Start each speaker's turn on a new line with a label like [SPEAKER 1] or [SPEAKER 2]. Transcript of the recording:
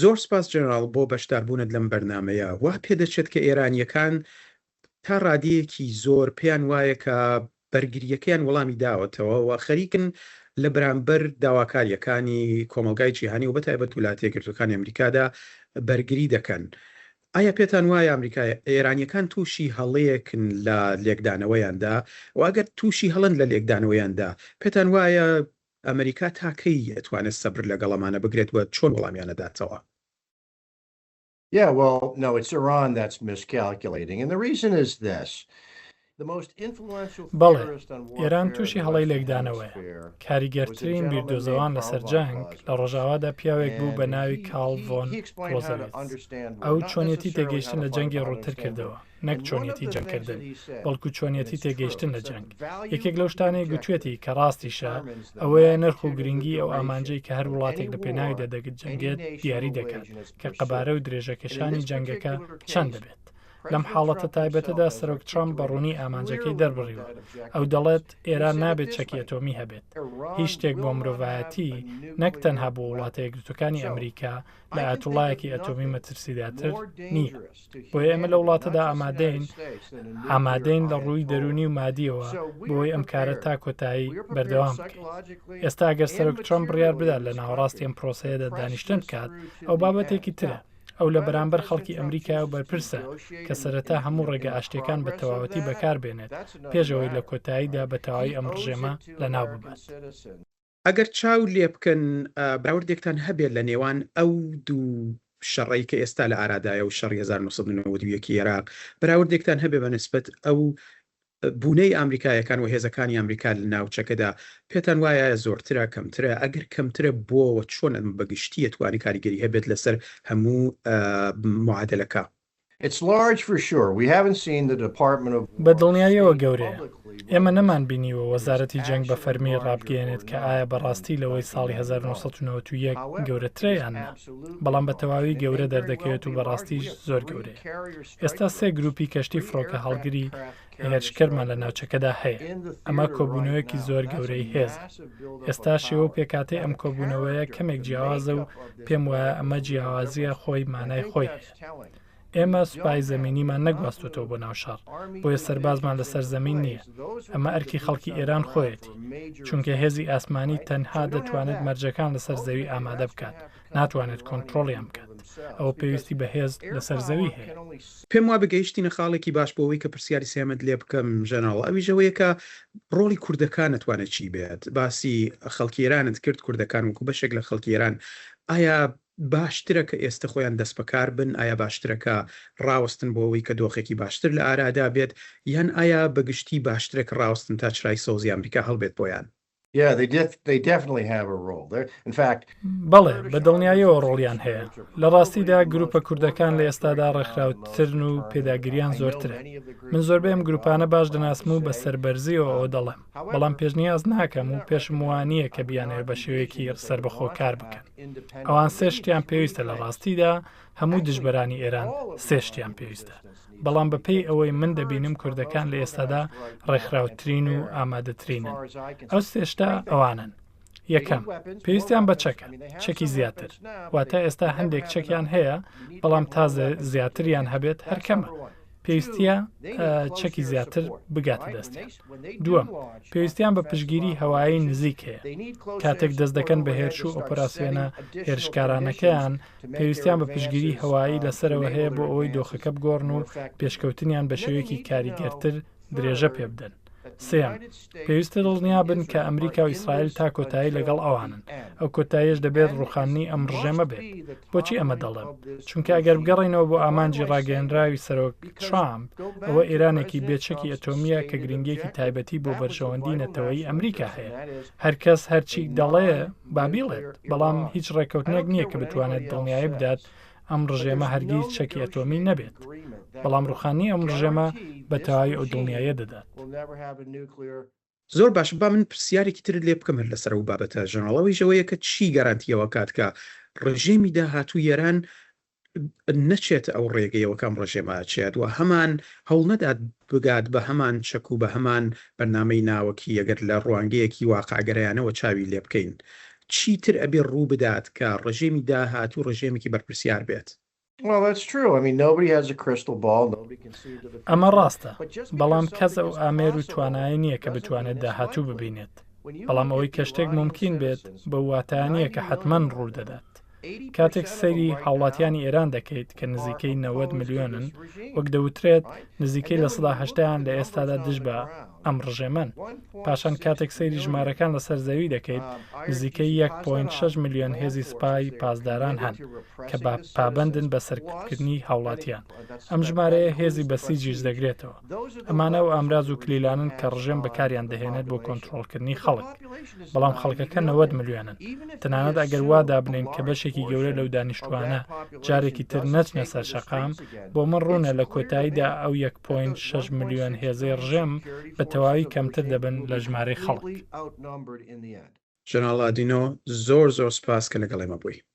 [SPEAKER 1] زۆر سپاس جەنراڵ بۆ بەشداربوونت لەم بەرنامەیە. وا پێدەچێت کە ئێرانییەکان تا ڕادەیەکی زۆر پێیان وایە کە بەرگرییەکەیان وەڵامی داوەتەوە و خەریکن لە بەرامبەر داواکارییەکانی کۆمەڵگای جیهانی و بە تایبەت ولاتە یەکگرتووەکانی ئەمریکادا بەرگری دەکەن. ئایا پێتان وایە ئەمریکا ئێرانییەکان تووشی هەڵەیەکن لە لێکدانەوەیاندا؟ و ئەگەر تووشی هەڵەن لە لێکدانەوەیاندا پێتان وایە ئەمەریکا تا کەی ئەتوانێت سەبر لەگەڵ ئەمانە بگرێت و چۆن وەڵامیان ئەداتەوە؟
[SPEAKER 2] بەڵێ، ئێران تووشی هەڵەی لێکدانەوەیە. کاریگەرترین بیردۆزەوان لەسەر جەنگ لە ڕۆژاوادا پیاوێک بوو بە ناوی کارل ڤۆن کلۆزەویتز. ئەو چۆنیەتی تێگەیشتن لە جەنگی ڕووتر کردەوە. نەک چۆنیەتی جەنگکردن بەڵکو چۆنیەتی تێگەیشتن لە جەنگ یەکێک لەو شتانەی گوتوێتی کە ڕاستیشە ئەوەیە نرخ و گرنگی ئەو ئامانجەی کە هەر وڵاتێک لە پێناوی دەدەگت جەنگێت دیاری دەکات کە قەبارە و درێژەکێشانی جەنگەکە چەند دەبێت لەم حاڵەتە تایبەتەدا سەرۆک ترامپ بە ڕوونی ئامانجەکەی دەربڕیوە ئەو دەڵێت ئێران نابێت چەکی ئەتۆمی هەبێت هیچ شتێک بۆ مرۆڤایەتی نەک تەنها بۆ وڵاتە یەکگرتوەکانی ئەمریکا لە ئاتوڵایەکی ئەتۆمی مەترسیداتر نییە. بۆیە ئێمە لە وڵاتەدا ئامادەین ئامادەین لە ڕووی دەرونی و مادیەوە بۆی ئەم کارە تا کۆتایی بەردەوام ئێستا گەر سەرک ترم بڕیار بدات لە ناوەڕاستی ئەم پرۆسەیەدا دانیشتن بکات ئەو بابەتێکی ترە ئەو لە بەرامبەر خەڵکی ئەمریکا و بەرپرسە کە سەرەتا هەموو ڕێگە ئاشتەکان بە تەواوەتی بەکاربێنێت پێشەوەی لە کۆتاییدا بە تەواوی ئەم ڕژێمە لە ناو ببات. ئەگەر
[SPEAKER 1] چاو لێبکەن بەراوردێکتان هەبێت لە نێوان ئەو دوو شەڕەی کە ئێستا لە ئارادایە و شەڕی هەزار و نۆ سەد و نەوەد و یەک ی ئێراق، بەراوردێکتان هەبێت بە نسبەت ئەو بوونەی ئامریکایەکان و هێزەکانی ئامریکا لە ناوچەکەدا، پێتان وایە زۆرترە، کەمترە، ئەگەر کەمترە بۆ و چۆن بە گشتی ئەتوانێت کاریگەری هەبێت لەسەر هەموو معادەلەکە؟
[SPEAKER 2] بە دڵنیاییەوە گەورەیە. ئێمە نەمانبینیوە وەزارەتی جەنگ بە فەرمی ڕابگەیەنێت کە ئایا بە ڕاستی لەوەی ساڵی 1991 گەورەترە یان نا. بەڵام بە تەواوی گەورە دەردەکەوێت و بەڕاستیش زۆر گەورەیە. ئێستا سێ گرووپی کەشتی فڕۆکەهەڵگری هێرشکەرمان لە ناوچەکەدا هەیە. ئەمە کۆبوونەوەیەکی زۆر گەورەی هێزە. ئێستا شێوە و پێکهاتەی ئەم کۆبوونەوەیە کەمێک جیاوازە و پێموایە ئەمە جیاوازییە خۆی مانای خۆی هەیە. ئێمە سوپای زەمینیمان نەگواستووەتەوە بۆ ناو شەڕ، بۆیە سەربازمان لەسەر زەمین نییە، ئەمە ئەرکی خەڵکی ئێران خۆیەتی، چونکە هێزی ئاسمانی تەنها دەتوانێت مەرجەکان لەسەر زەوی ئامادە بکات، ناتوانێت کۆنتڕۆڵیان بکات، ئەوە پێویستی بە هێز لەسەر زەوی هەیە. پێم وابێ
[SPEAKER 1] گەیشتینە خاڵێکی باش بۆ ئەوەی کە پرسیاری سێیەمت لێ بکەم ژەنەڕاڵ، ئەویش ئەوەیە کە ڕۆڵی کوردەکان ئەتوانێت چی بێت؟ باسی خەڵکی ئێرانت کرد، کوردەکان وەکوو بەشێک لە خەڵکی ئێران، ئایا باشترە کە ئێستە خۆیان دەستبەکار بن، ئایا باشترە کە ڕاوەستن بۆ ئەوەی کە دۆخێکی باشتر لە ئارادا بێت، یان ئایا بە گشتی باشترە کە ڕاوەستن تا چرای سەوزی ئامریکا هەڵبێت بۆیان؟
[SPEAKER 2] بەڵێ، بە دڵنیایەوە ڕۆڵیان هەیە. لە ڕاستیدا گرووپە کوردەکان لە ئێستادا ڕێکخراوترن و پێداگرییان زۆرترە. من زۆربەی ئەم گرووپانە باش دەناسم و بە سەربەرزییەوە ئەوە دەڵێم. بەڵام پێشنیاز ناکەم و پێشم وانییە کە بیانەوێت بە شێوەیەکی سەربەخۆ کار بکەن. ئەوان سێ شتیان پێویستە لە ڕاستیدا هەموو دژبەرانی ئێران سێ شتیان پێویستە. بەڵام بە پێی ئەوەی من دەبینم کوردەکان لە ئێستادا ڕێکخراوترین و ئامادەترینن. ئەو سێ شتە ئەوانەن. یەکەم، پێویستیان بە چەکە، چەکی زیاتر، واتە ئێستا هەندێک چەکیان هەیە، بەڵام تا زیاتریان هەبێت هەر کەمە. پێویستە چەکی زیاتر بگاتە دەستیان. دووەم، پێویستیان بە پشگیری هەوایی نزیک هەیە. کاتێک دەست دەکەن بە هێرش و ئۆپەراسیۆنە هێرشکارانەکەیان، پێویستیان بە پشگیری هەوایی لەسەرەوە هەیە بۆ ئەوەی دۆخەکە بگۆڕن و پێشکەوتنیان بە شێوەیەکی کاریگەرتر درێژە پێ بدەن. سێیەم، پێویستە دڵنیا بن کە ئەمریکا و ئیسرائیل تا کۆتایی لەگەڵ ئەوانن، ئەو کۆتاییەش دەبێت ڕووخاندنی ئەم ڕژێمە بێت. بۆچی ئەمە دەڵێم؟ چونکە ئەگەر بگەڕێینەوە بۆ ئامانجی ڕاگەیێنراوی سەرۆک ترامپ، ئەوە ئێرانێکی بێ چەکی ئەتۆمییە کە گرنگییەکی تایبەتی بۆ بەرژەوەندیی نەتەوەیی ئەمریکا هەیە. هەر کەس هەرچی دەڵێ با بیڵێت، بەڵام هیچ ڕێککەوتنێک نییە کە بتوانێت دڵنیایی بدات ئەم ڕژێمە هەرگیز چەکی ئەتۆمی نەبێت بەڵام ڕوخانی ئەم ڕژێمە بە تەواوی ئەو دڵنیاییە دەدات. زۆر
[SPEAKER 1] باشە با من پرسیارێکی ترت لێ بکەم هەر لەسەر ئەو بابەتە ژەنراڵ ئەویش ئەوەیە کە چی گەرانتی ئەوە کات کە ڕژێمی داهاتوو یەران نەچێتە ئەو ڕێگەیەوە کام ڕژێمە ئەچێت و هەمان هەوڵ نەدات بگات بە هەمان چەک و بە هەمان بەرنامەی ناوەکی ئەگەر لە ڕوانگەیەکی واقعگەرایانەوە چاوی لێ بکەین چیتر ئەبێ ڕوو بدات کە ڕژێمی داهاتوو ڕژێمێکی بەرپرسیار بێت.
[SPEAKER 3] ئەمە ڕاستە،
[SPEAKER 2] بەڵام کەس ئەو ئامێر و توانایە نییە کە بتوانێت داهاتوو ببینێت، بەڵام ئەوەی کە شتێک مومکین بێت بەو واتایە نییە کە حەتمەن ڕوو دەدات. کاتێک سەیری هاوڵاتیانی ئێران دەکەیت کە نزیکەی نەوەد ملیۆنن، وەک دەوترێت نزیکەی لە سەدا هەشتایان لە ئێستادا دژ بە ئەم ڕژێمەن. پاشان کاتێک سەیری ژمارەکان لەسەر زەوی دەکەیت، نزیکەی یەک پۆینت شەش ملیۆن هێزی سپای پاسداران هەن کە پابەندن بە سەرکوتکردنی هاوڵاتیان. ئەم ژمارەیە هێزی بەسیجیش دەگرێتەوە. ئەمانە ئەو ئامراز و کلیلانەن کە ڕژێم بەکاریان دەهێنێت بۆ کۆنترۆڵکردنی خەڵک. بەڵام خەڵکەکە نەوەد ملیۆنن. تەنانەت ئەگەر وا دابنێین کە بەشێکی گەورە لەو دانیشتووانە جارێکی تر نەچنە سەر شەقام، بۆ من ڕوونە لە کۆتاییدا ئەو یەک پۆینت شەش ملیۆن هێزەی ڕژێم بە تەواوی کەمتر دەبن لە ژمارەی خەڵک.
[SPEAKER 1] ژەنەڕاڵ لادینۆ، زۆر زۆر
[SPEAKER 2] سوپاس
[SPEAKER 1] کە لەگەڵ ئێمە بووی.